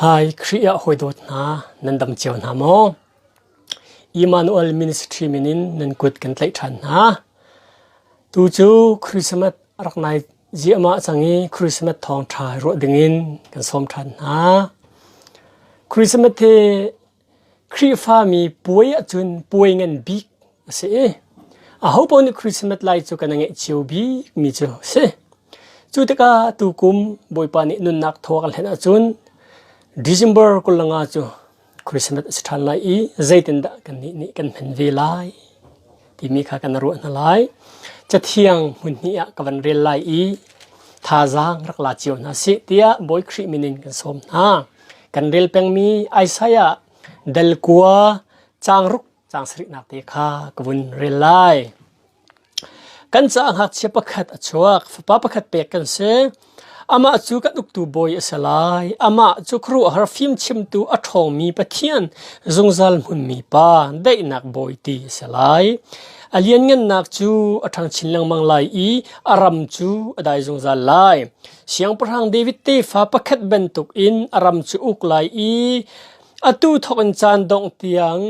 Hi Khrih ah hawi dawt hna nan dam cio hna maw? Emmanuel Ministry min in nan kut kan tlaih ṭhan hna. Tu cu Christmas a rak nai ziahmah cang i Christmas thawng ṭha ruah ding in kan sawm ṭhan hna. Christmas hi Khrihfami puai ahcun puai ngan bik a si i ahopaoh nih Christmas lai cu kan i ngaih cio bikmi cu a si. Cu tikah tukum Bawipa nih nunnak thaw kan hlen ahcun December kul le nga cu Christmas a si ṭhan lai i zeitindah kannih nih kan hman ve lai? timi kha kan ruah hna lai cathiang hmunhnih ah ka van rel lai i thazaang rak la cio hna si tiah bawi Khrih minin kan sawm hna kan rel pengmi Isaiah delkua changruk cang sariknak te kha ka vun rel lai kan ca ngakchia pakhat a chuak fapa pakhat pek kan si Amah cu kan uktu bawi a si lai. Amah cu khuaruahhar fimchimtu a ṭhawngmi Pathian, zungzal hmunmi Pa, daihnak Bawi ti a si lai. A lianngannak cu a ṭhangchin lengmang lai i a ram cu a dai zungzal lai. Siangpahrang David tefa pakhat bantukin a ram cu uk lai i atu thawk in caan dongh tiang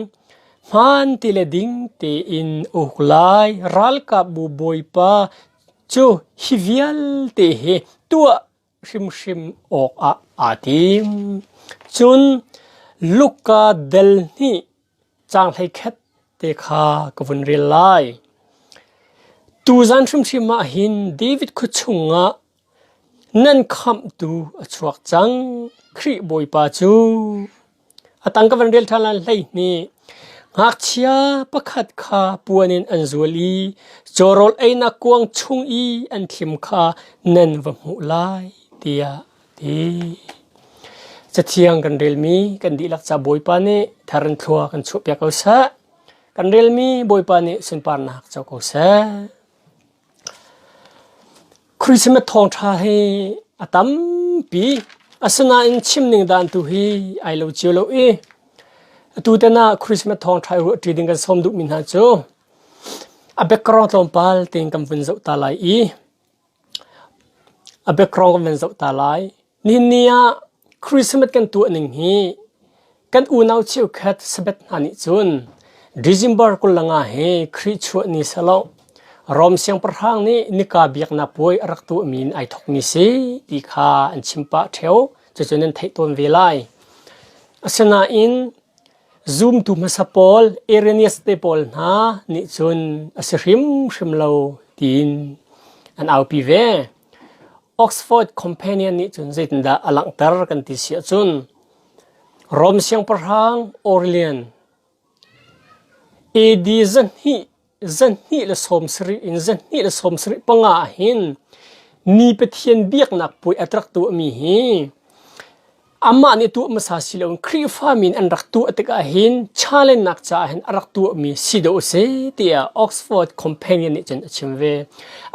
hmaan ti le ding tein uk lai. Ralkapbu Bawipa Cu hi vialte hi tuah hrimhrim awkah aa tim. Cun Luka del hnih caang hleikhat te kha ka vun rel lai. Tuzan hrimhrim ah hin David khua chungah nan khamhtu a chuak cang, Khrih Bawipa cu! A tang ka van rel ṭhan lai hleihnih. Ngakchia pakhat kha puan in an zual i cawrawl einak kuang chung i an thlim kha nan va hmuh lai, tiah a ti. Cathiang kan relmi kan dihlak ca Bawipa nih thar in thlua kan chuahpiak ko seh. Kan relmi Bawipa nih sunparnak co ko seh. Christmas thawngṭha hi a tampi. Asinain chimning dan tu hi ai lo cio lo i atu ten ah Christmas thawngṭha i ruahṭi ding kan sawm duhmi hna cu a background tlawmpal tein kan vun zoh ta lai i a background kan van zoh ta lai. Nihin ah Christmas kan tuah ning hi kan unau cheukhat Sabbath hna nih cun December kul langa he Khrih chuah ni selaw Rom siangpahrang nih nika biaknak puai a rak tuahmi in ai thokmi si ti kha an chim pah theo cucun an theih tawn ve lai. Asinain zumtu hmasa pawl Irenaeus te pawl hna nih cun a si hrimhrim lo tiin an aupi ve. Oxford Companion nih cun zeitindah a langhter kan ti si ahcun Rom siangpahrang Aurelian AD zahnih, zahnih le sawm sarih in zahnih le sawm sarih panga ah hin ni Pathian biaknak puai a rak tuahmi hi Amah nih tuah hmasa si loin Khrihfami in an rak tuah tikah hin challengnak caah hin a rak tuahmi si dawh a si tiah Oxford Companion nih cun a chim ve.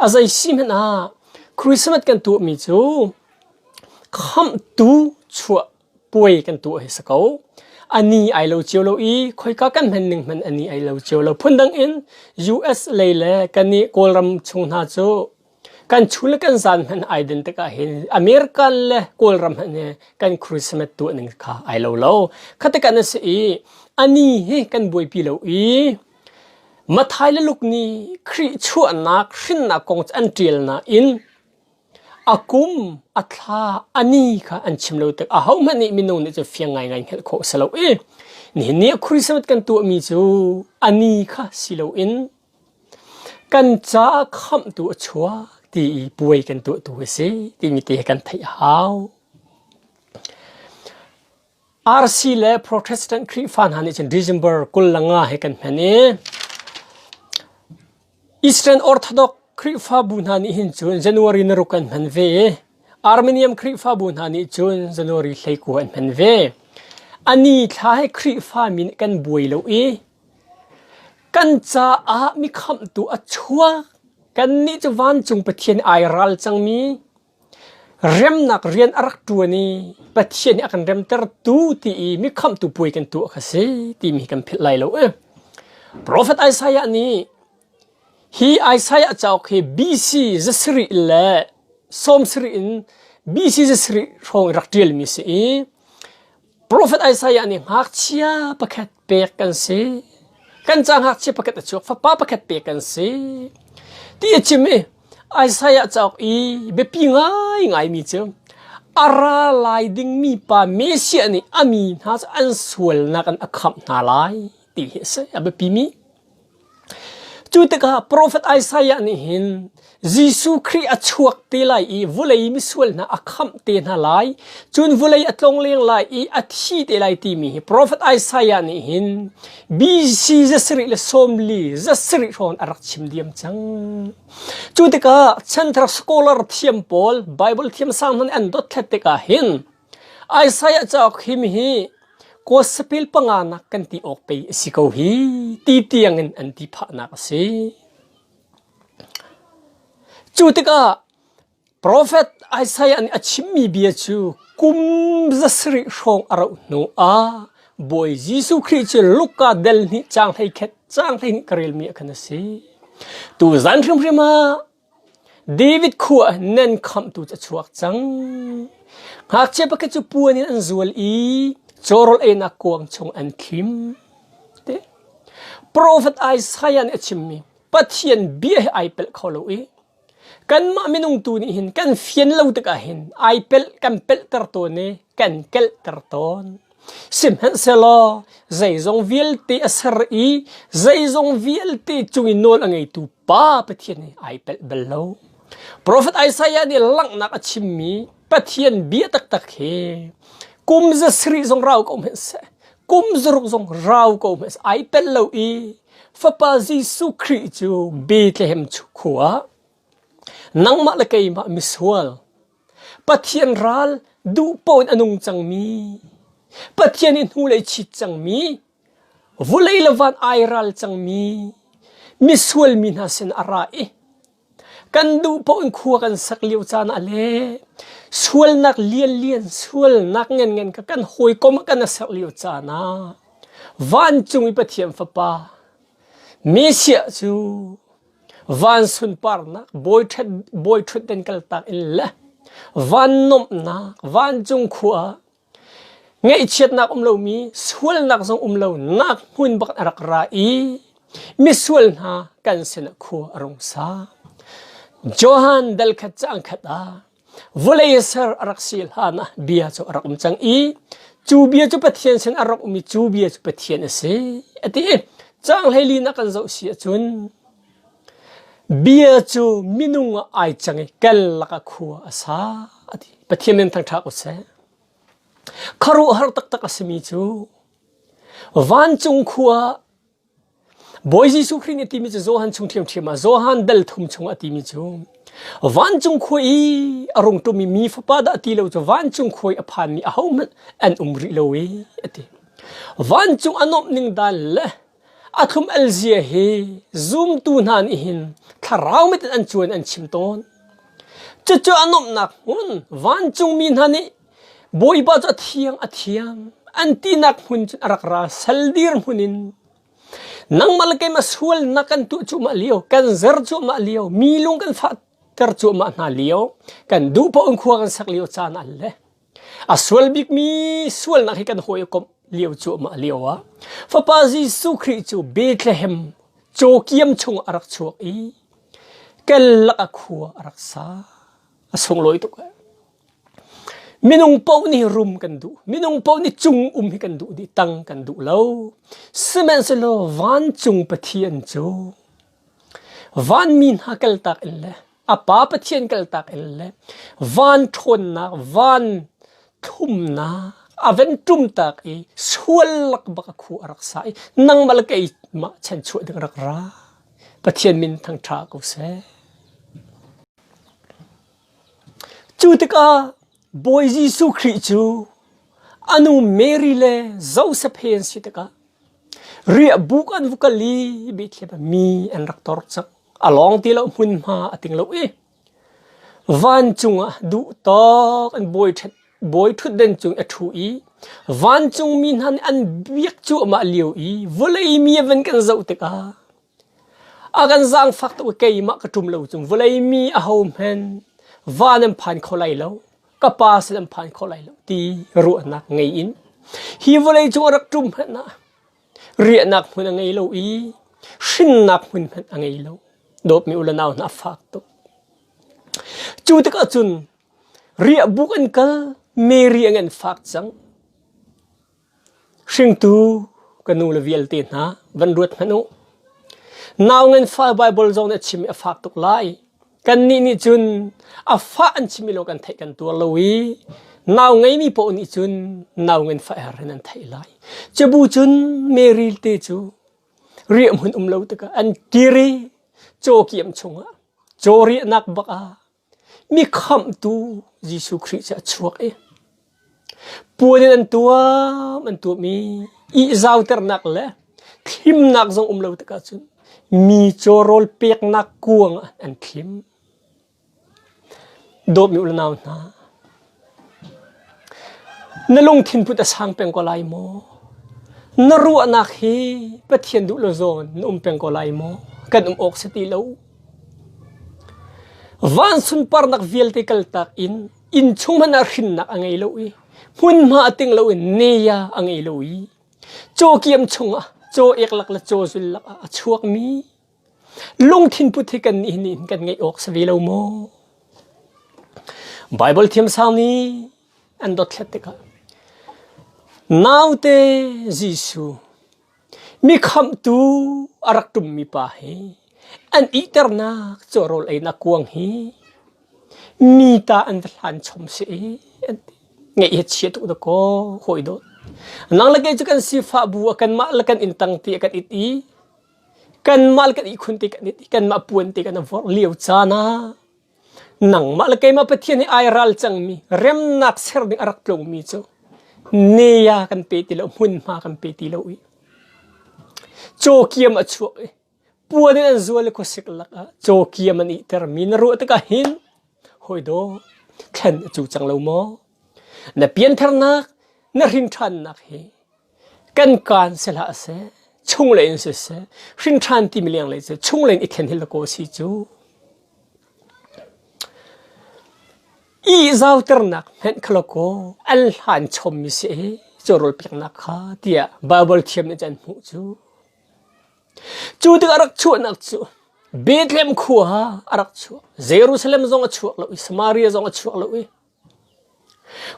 A zei si hmanh ah Christmas kan tuahmi cu khamhtu chuah puai kan tuah hi si ko. Ani ai lo cio lo i khoika kan hman ning hman ani ai lo cio lo. Phundang in US lei le kan i Kawlram chung hna cu Kan chul le kan zan hmanh ai den tikah hin America le Kawlram hmanh hi kan Christmas tuahning kha ai lo lo. Khatikan a si i ani hi kan buaipi lo i Mathai le Luk nih Khrih chuahnak hrinnak kong cu an ṭial nain a kum a thla a ni kha an chim lo tik ahohmanh nih minung nih cu fiang ngaingai hngalh khawh a si lo i nihin ni ah Christmas kan tuahmi cu a ni kha si loin Kan caah khamhtu a chuak ti i puai kan tuahtu a si timi te hi kan theih a hau. RC le Protestant Khrihfa hna nih cun December kul le nga hi kan hman i Eastern Orthodox Khrihfabu hna nih hin cun January naruk an hman ve i Armenian Khrihfabu hna nih cun January hleikua an hman ve. A ni thla hi Khrihfa min kan buai lo i Kan caah mikhamhtu a chuak. Kannih cu vancung Pathian i ai ral cangmi, remnak rian a rak ṭuan i Pathian nih a kan remtertu ti i mikhamhtu puai kan tuah kha si timi hi kan philh lai lo ee. Profet Isaiah nih hi Isaiah cauk hi BC zasarih le sawmsarih in BC zasarih hrawng i rak ṭialmi a si i profet Isaiah nih ngakchia pakhat pek kan si. Kan ca ngakchia pakhat a chuak, fapa pakhat pek kan si. Ti a chim i Isaiah cauk i biapi ngai ngaimi cu a ra lai dingmi pa Messiah nih a mi hna cu an sualnak in a khamh hna lai ti hi a si. A biapimi Cu tikah profet Isaiah nih hin Jesuh Khrih a chuak te lai i vulei misual hna a khamh te hna lai. Cun vulei a tlongleng lai i a thi te lai timi hi profet Isaiah nih hin BC za sarih le sawmli za sarih hrawn a rak chim diam cang. Cu tikah chanthar scholar thiam pawl Bible thiamsang hman an dot thlet tikah hin Isaiah cauk hi mihi Kosapil panga nak kan ti awk pei a si ko hi ti tiang in an ti phahnak a si. Cu tikah Profet Isaiah nih a chimmi bia cu kum za sarih hrawng a rauh hnu ah Bawi Jesuh Khrih cu Luka del hnih cang hlei khet cang hlei hnih ka relmi ah khan a si. Tu zan hrimhrim ah David khua ah nan khamhtu cu a chuak cang. Ngakchia pakhat cu puan in an zual i cawrawl einak kuang chung an khim. Te. Profet Isaiah nih a chimmi Pathian bia hi ai pelh kho lo i kanmah minung tu nih hin kan fian lo tikah hin ai pelh kan pelhter tawn i kan kelhter tawn. Sihmanhsehlaw zeizong vialte a ser i zeizong vialte cung i nawl a ngeitu Pa Pathian he ai pelh bal lo. Profet Isaiah nih langhnak a chimmi Pathian bia taktak hi kum za sarih zong rau ko hmanhseh, kum zaruk zong rau ko hmanhseh ai tel lo i Fapa Jesuh Khrih cu Bethlehem khua nangmah le keimah misual Pathian ral duhpoh in a nung cangmi, Pathian nih hnulei chit cangmi, vulei le van ai ral cangmi, misual mi hna sin a ra i kan duhpoh in khua kan sak lio caan ah le sualnak lianlian sualnak ngenngen ka kan hawikom ah kan a sak lio caan ah vancung i Pathian Fapa Messiah cu van sunparnak bawi ṭhutden kaltak in le van nuamhnak vancung khua ah ngaihchiatnak um lomi sualnak zong um lo nak hmun bak a rak ra i misual hna kan sinah khua a rung sa Johan dal khat cang khat ah vawlei ser a rak si hlan ah bia cu a rak um cang i cu bia cu Pathian sin a rak ummi cu bia cu Pathian a si a ti cang hlei na kan zoh si ahcun bia cu minung ah ai cang i kel laka khua a sa a ti Pathian nan thangṭha ko seh kharuh har taktak a simi cu vancung khua Bawi Jesuh Khrih nih a timi cu Johan chung ṭhiamṭhiam ah Johan dal thum chung a timi cu vancung khua i a rung ṭum i mi fapa dah ti lo cu vancung khua i a phanmi ahohmanh an um rih lo i a ti. Vancung a nuamh ning dan le a thlum elzia hi zumtu hna nih hin thlarau mit in an cuan an chim tawn. Cucu a nuamhnak hmun vancungmi hna nih Bawipa cu a thiang a thiang an tinak hmun cun a rak ra sal dir hmun in nangmah le keimah sualnak kan tuah cuahmah lio kan zer cuahmah lio mi lung kan fah ter cuahmah hna lio kan duh paoh in khua kan sak lio caan an le a sual bik mi sualnak hi kan hawi komh lio cuahmah lio ah fapa Jesuh Khrih cu Bethlehem caw chung a rak chuak i kel lak a khua a rak sa a sunglawi tuk eh. Minung paoh nih rum kan duh. Minung paoh nih cung um hi kan duh dih. Tang kan duh lo. Sihmanhsehlaw vancung Pathian cu vanmi hna kaltak in le a Pa Pathian kaltak in le van ṭhawnnak, van thlumnak a ven ṭumtak i sual lak bak a khu a rak sa i nangmal keimah chanchuah ding rak ra. Pathian min thangṭha ko seh. Cu tikah Bawi Jesuh Khrih cu a nu Mary le Josef he an si tikah riahbuk an vu kal i Bethlehem ah mi an rak tor cang. A lawng ti lo hmunhma a ting lo i vancung ah duhtawk an bawi ṭhet bawi ṭhutden cung i a ṭhu i vancungmi hna nih an biak cu amah lio i vawlei mi a van kan zoh tikah A kan zaangfak tuk i keimah ka ṭum lo cung vawlei mi ahohmanh va nan phan kho lai lo, ka Pa sin an phan kho lai lo ti ruahnak ngei in hi vawlei cung a rak ṭum hmanh ah riahnak hmun a ngei lo i hrinnak hmun hmanh a ngei lo. Dawtmi u le nau hna a fak tuk. Cu tikah cun riahbuk an kal, Mary an an fak cang. Hringtu ka nu le vialte hna van ruat hmanh u. Nau nganfah Baibal zong nih a chim i a fak tuk lai. Kannih nih cun a fah an chim i lo kan theih kan tuar lo i nau ngeimi paoh nih cun nau nganfah her in an theih lai. Cabu cun Mary te cu riahhmun um lo tikah an kir i caw kiam chungah caw riahnak bak ah Mikhamhtu Jesuh Khrih cu a chuak i puan in an tuam an tuam i ihzauternak le thlimnak zong um lo tikah cun mi caw rawl peknak kuang ah an thlim. Dawtmi unau hna, Na lungthin put a sang peng ko lai maw? Na ruahnak hi Pathian duh lo zawn na um peng ko lai maw? Kan um awk si ti lo. Van sunparnak vialte kaltak in inn chung hman ah hrinnak a ngei lo i hmunhma a ting lo in neya a ngei lo i caw kiam chung ah caw ek lak le caw zul lak ah a chuak mi Lungthin put hi kan nih nih kan ngeih awk si ve lo maw? Bible thiamsang nih an dothlet tikah naute Jesuh mi khamtu a rak tummi pa hi an iternak cu rawl einak kuang hi mi ta an va hlan chom si i an ngeih hi chia tu da ko hoi dot nang le kei cu kan sifah bu a kan mah le kan in tang ti a kan it i Kanmah le kan ihkhun te kan i kanmah puan te kan i vorh lio caan ah nangmah le keimah Pathian nih ai ral cangmi remnak ser ding a rak tlungmi cu nea kan pe ti lo, hmunhma kan pe ti lo i cawkiam a chuak i puan in an zual i khuasik lakah cawkiam an ihtermi na ruah tikah hin hawi daw thlen a cu cang lo maw? Na pianternak, na hrinṭhannak hi kan kaan sehlah a si, chunglei in siseh, hrinṭhan timi lenglei cu chunglei in i then hi lakaw a si cu. I zauternak hmenh kha lakaw an hlan chommi si i cawrawl peknak kha tiah Baibal thiam nih an hmuh cu. Cu tikah a rak chuahnak cu Bethlehem khua ah a rak chuak. Jerusalem zong a chuak lo i Samaria zong a chuak lo i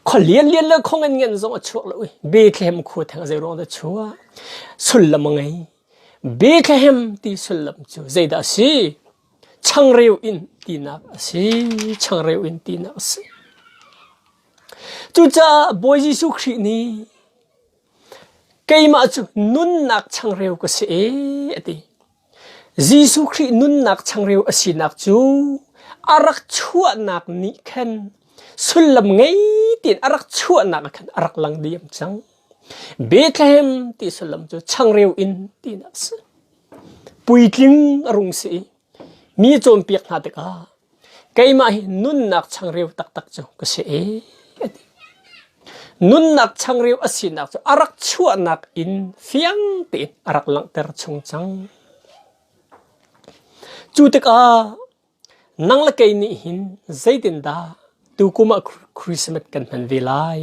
Khua lianlian le khong enngen zong a chuak lo i Bethlehem khua theng zeiruang dah chuah? Sullam a ngei. Bethlehem ti sullam cu zeidah a si? Changreu in tinak a si. Changreu in tinak a si. Cucaah Bawi Jesuh Khrih nih keimah cu nunnak changreu ka si e, a ti. Jesuh Khrih nunnak changreu a sinak cu a rak chuahnak nih khan sullam ngei tein a rak chuahnak ah khan a rak lang diam cang. Bethlehem ti sullam cu changreu in tinak a si. Puitling a rung si i mi cawnpiak hna tikah keimah hi nunnak changreu taktak cu ka si e a ti. Nunnak changreu a sinak cu a rak chuahnak in fiang tein a rak langhter chung cang. Cu tikah nang le kei nih hin zeitindah tukum ah Christmas kan hman ve lai?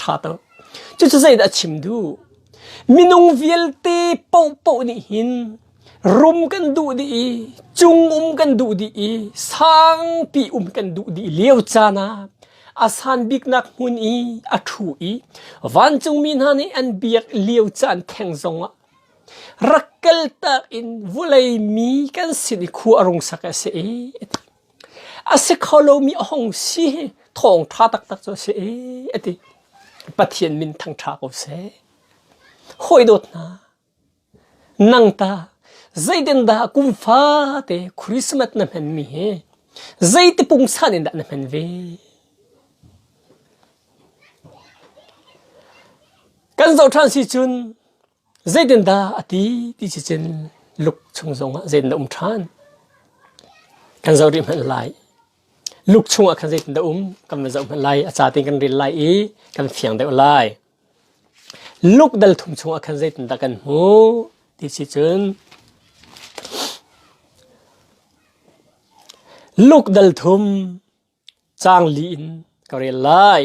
ṭha to cucu zeidah a chim duh minung vialte pohpoh nih hin rum kan duh dih i cung um kan duh dih i sangpi um kan duh dih lio caan ah a san biknak hmun i a ṭhu i vancungmi hna nih an biak lio caan theng zong ah rak kal tak in vulei mi kan sin i khua a rung sak a si i a ti A si kho lomi a hung si hi thawng ṭha taktak cu a si e, a ti. Pathian min thangṭha ko seh. Hawi dawt hna, nang ta zeitin dah kum fate Christmas na hmanmi hi zeiti pungsan in dah na hman ve? Kan zoh ṭhan si cun Zeitindah a ti ti si cun Luke chung zongah zeitin a um ṭhan? Kan zoh rih hmanh lai. Luke chungah khan zeitindah um kan va zoh hmanh lai. A ca tein kan rel lai i kan fiang deuh lai. Luke dal thum chungah khan zeitindah kan hmuh ti si cun Luke dal thum Caang li in ka rel lai.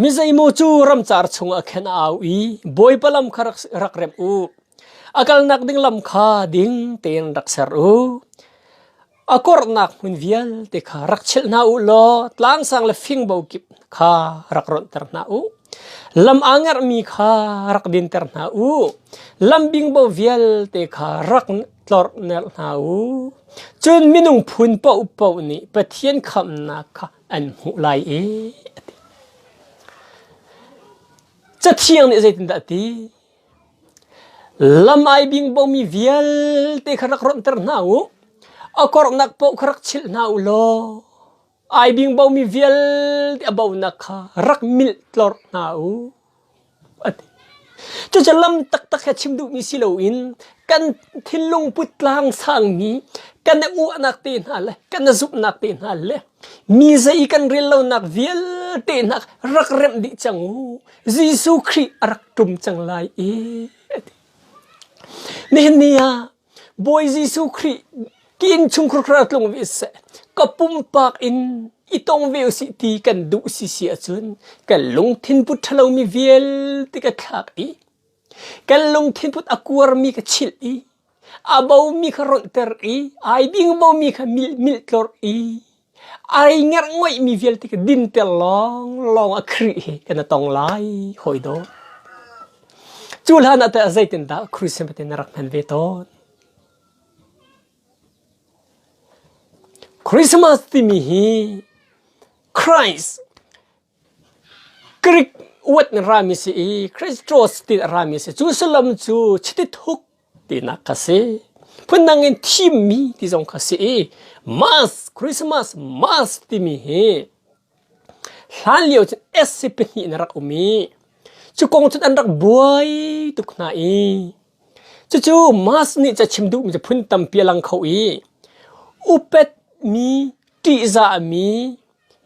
Mizeimaw cu ramcar chungah khan a au i Bawipa lam kha rak, rak remh u. A kalnak ding lam kha ding tein rak ser u. A korhnak hmun vialte kha rak chilh hna u law tlangsang le fingbo kip kha rak ronhter hna u. Lam aa ngerhmi kha rak dinter hna u. Lam bingbo vialte kha rak tlorhner hna u. Cun minung phun paohpaoh nih Pathian khamhnak kha an hmuh lai i Cathiang nih zeitindah a ti? Lam ai bingbomi vialte kha rak rawmhter hna u. A kornak paoh kha rak chilh hna u law ai bing bomi vialte a bonak kha rak milh tlorh hna u a ti cucu lam taktak he chim duhmi si loin kan thinlung puttlang sangmi kan i uahnak te hna le kan i zumhnak te hna le mi zei kan rel lonak vialte hna rak remh dih cang u Jesuh Khrih a rak tum cang lai i nihin ni ah Bawi Jesuh Khrih ki in chungkhur khara tlung ve seh ka pumpak in i tong ve usih ti kan duh si si ahcun kan lungthin put ṭhalomi vialte ka thlak i kan lungthin put a kuarmi ka chilh i a bomi kha rolhter i ai bingbomi kha milh milh tlorh i Ai ngerhngoihmi vialte ka dinter lawng lawng a Khrih hi kan i tong lai, hawi dawt. Cu hlan ah teh zeitindah Christian patin na rak hman ve tawn? Christmas timi hi Christ Greek word in rami si i Christos ti a rami si. Cu sullam cu chitithuk tinak kha si. Phundang in thimmi ti zong kha si i Mass, Christmas, Mass timi hi hlan lio cun S pahnih in a rak um i cu kong cun an rak buai tuk hna i cucu Mass nih ca chim duhmi cu phun tampi a lang kho i upet mi, ṭihzah mi,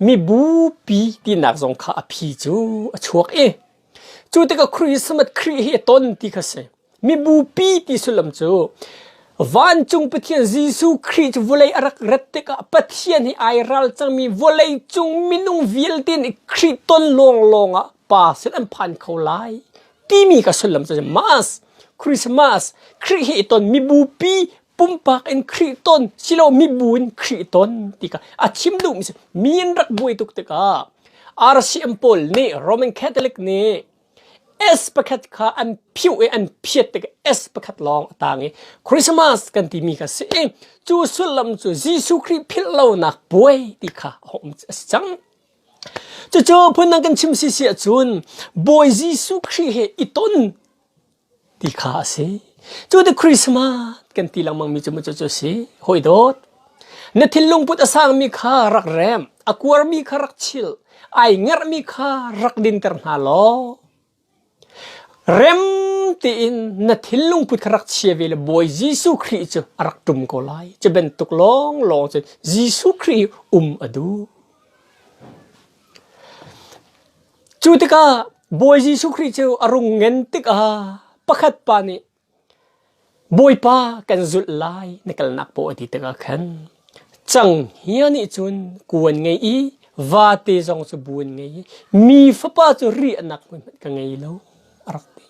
mibupi tinak zong kha a phi cu a chuak i cu tikah Christmas Khrih hi a ton ti kha si mibupi ti sullam cu vancung Pathian Jesuh Khrih cu vawlei a rak rat tikah Pathian hi ai ral cangmi vawlei cung minung vialte nih Khrih ton lawng lawng ah pa sin an phan kho lai timi ka sullam cu must Christmas Khrih hi i ton mibupi pumpak in Khrih ton silo mibu in Khrih ton ti ka a chim duhmi si mi in rak buai tuk tikah RCM pawl nih Roman Catholic nih S pakhat kha an phiu i an phiat tik S pakhat lawng a tang i Christmas kan timi kha si i cu sullam cu Jesuh Khrih philh lonak buai ti kha a um a si cang cucu phun nang kan chim si si ahcun Bawi Jesuh Khrih he i ton ti kha a si. Cu ti Christmas kan ti lengmangmi cu macu cu a si. Hoi dawt. Na thinlung put a sangmi kha rak rem, a kuarmi kha rak chil, ai ngerhmi kha rak dinter hna law rem tiin na thinlung put kha rak chia ve le Bawi Jesuh Khrih cu a rak ṭum ko lai. Cu bantuk lawnglawng cun Jesuh Khrih um a duh. Cu tikah Bawi Jesuh Khrih cu a rung ngen tikah pakhat pa nih Bawipa kan zulh lai na kalnak paw a ti tikah khan cang hia nih cun ku an ngei i vate zong cu bu an ngei i mi fapa cu ri anak hmun hmanh ka ngei lo a rak ti.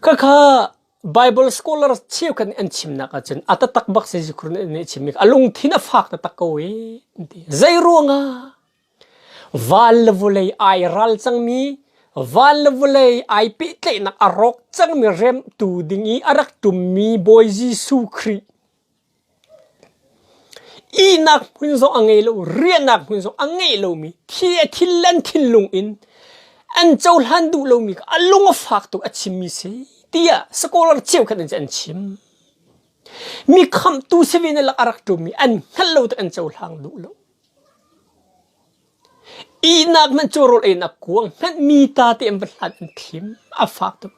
Khakha Baibal scholar cheukhat nih an chimnak ahcun a tatak bak Jesuh Khrih nih a chim i a lungthin a fak taktak ko i an ti. Zei ruangah? Van le vulei ai ral cangmi, van le vulei ai pehtlaihnak a rawk cangmi remtu ding i a rak tummi Bawi Jesuh Khrih Ihnak hmun zong a ngei lo, riahnak hmun zong a ngeih lomi, thi a thinlen thinlung in an cohlan duh lomi kha a lung a fak tuk a chimmi si tiah scholar cheukhat in an chim. Mi khamhtu si ve in a lak a rak ṭummi an hngalh lo tik an cohlang duh lo. Ihnak hmanh cu rawl einak kuang hmanh mi ta te an va hlat an thim a fak tuk.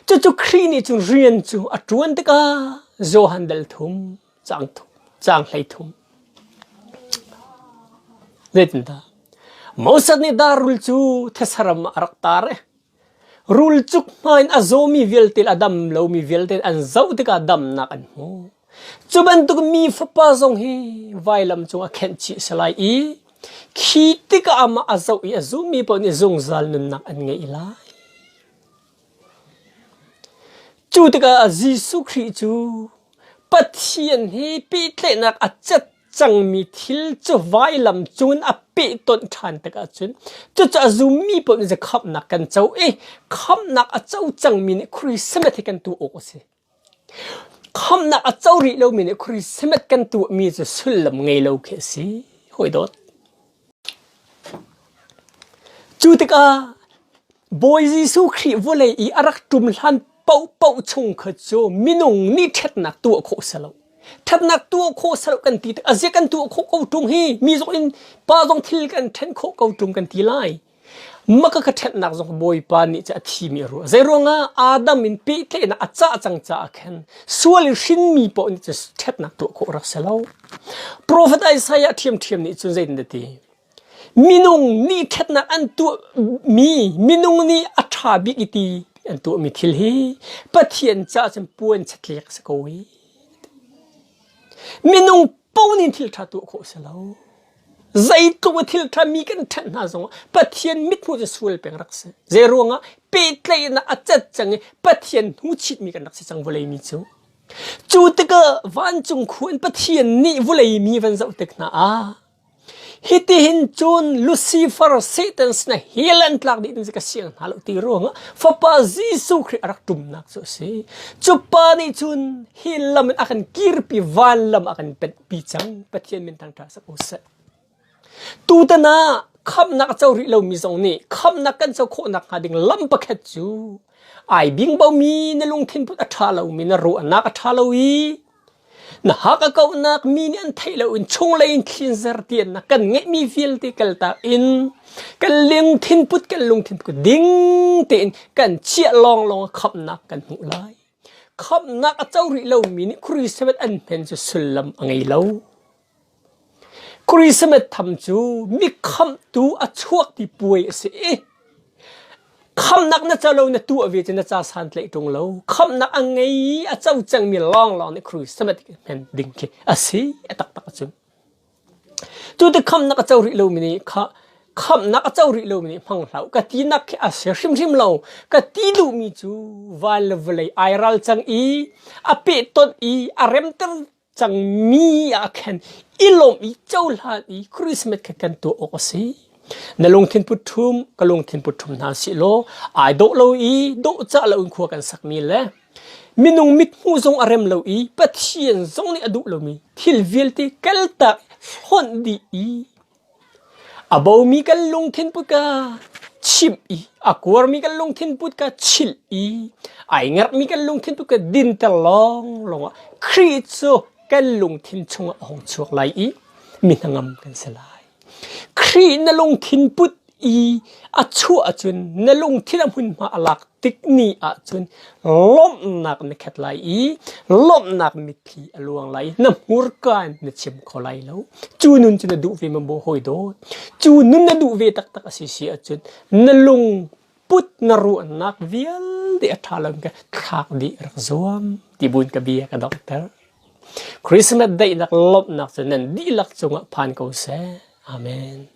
Cucu Khrih nih cun rian cu a ṭuan tikah Johan dal thum, caang, thum, caang hlei thum. Zeitindah? Moses nih darul cu thesaram ah a rak tar i Rulcuk hmai in a zawmi vialte le a dam lomi vialte an zoh tikah damnak an hmu. Cu bantuk mi fapa zong hi vailam cung a khenhchih a si lai i khi tikah amah a zoh i a zummi paoh nih zungzal nunnak an ngei lai. Cu tikah Jesuh Khrih cu Pathian hi pehtlaihnak a cat cangmi thil cu vailam cun a pehtonh ṭhan tikah cun cucaah zummi pawl nih khamhnak kan co i khamhnak a co cangmi nih Christmas hi kan tuah awk a si. Khamhnak a co rih lomi nih Christmas kan tuahmi cu sullam ngei lo khi a si. Hawi dawt. Cu tikah Bawi Jesuh Khrih vawlei i a rak ṭum hlan paohpaoh chung kha cu minung nih ṭhatnak tuah khawh si lo. Ṭhatnak tuah khawh si lo kan ti tik ah a zia kan tuah khawh ko ṭung hi mi zong in pa zong thil kan ṭhen khawh ko ṭung kan ti lai. maka ka ṭhennak zong Bawipa nih cu a thimi a ruah. Zeiruangah Adam in pehtlaihnak a cah cang caah khan sual in hrinmi paoh nih cun ṭhatnak tuah khawh rak si lo. Profet Isaiah ṭhiamṭhiam nih cun zeitin a ti? Minung nih ṭhatnak an tuahmi, minung nih a ṭha bik i ti an tuahmi thil hi Pathian caah cun puan chatliak a si ko i minung paoh nih thil ṭha tuah khawh a si lo. Zeitluk a thil ṭhami kan ṭhenh hna zongah Pathian mithmuh cu sual peng rak si. Zeiruangah pehtlaihnak a cat cang i Pathian hnuchitmi kan rak si cang vawlei mi cu. Cu tikah vancung khu in Pathian nih vawlei mi van zoh tik hna ah hitihin cun Lucifer Satan sinah hell an tlak dih in ka siang hna lo ti ruangah Fapa Jesuh Khrih a rak ṭumnak cu a si. Cu pa nih cun hell lam in a kan kirpi, van lam a kan penh pi cang pathian min tang ṭha sak u sat tutan ah khamnak co rih lomi zong nih khamnak kan co khawhnak hnga ding lam pakhat cu ai bingbomi na lungthin put a ṭha lomi na ruahnak a ṭha lo i na haka kauhnak mi nih an theih lo in chunglei in khinzer tian na kan ngeihmi vialte kaltak in kan lungthin put kan lungthin put ding tein kan chiah long long khamnak kan hmuh lai Khamhnak a co rih lomi nih Kirisemet an hnen cu sullam a ngei lo. Kirisemet tham cu mi khamhtu a chuak ti puai a si i khamhnak na co lo na tuah ve cu na ca santlaih ṭung lo. Khamhnak a ngei i a co cangmi lawnglawng nih Kirisemet hnen ding khi a si a taktak a cu. Tute khamnak a co rih lomi nih kha khamnak a co rih lomi nih hmang hlah u ka tinak khi a si hrimhrim lo ka ti duhmi cu van le vawlei ai ral cang i a pehtonh i a remter cangmi ah khan i lawm i cohlan i Christmas kha kan tuah awk a si na lungthin put ṭhum ka lungthin put ṭhum hna si law ai dawh lo i dawh cah lo in khua kan sakmi le Minung mithmuh zong a rem lo i Pathian zong nih a duh lomi thil vialte kaltak hlonh dih i a bomi kan lungthin put ka chimh i a kuarmi kan lungthin put ka chilh i ai ngerhmi kan lungthin put ka dinter lawnglawng ah Khrih cu kan lungthin chungah a hung chuak lai i mi hnangam kan si lai. Khrih na lungthin put i a chuah ahcun na lungthin a hmunhma a lak tik ni ahcun lawmhnak na khat lai i lawmhnak mitthli a luang lai na hmurka in na chim kho lai lo cu nun cu na duh ve maw hawi dawt cu nun na duh ve taktak a si si ahcun na lung put na ruahnak vialte a ṭha lo ka thlak dih rak zuam ti buin ka bia ka donghter Christmas daihnak lawmhnak cu nan dihlak cungah phan ko seh amen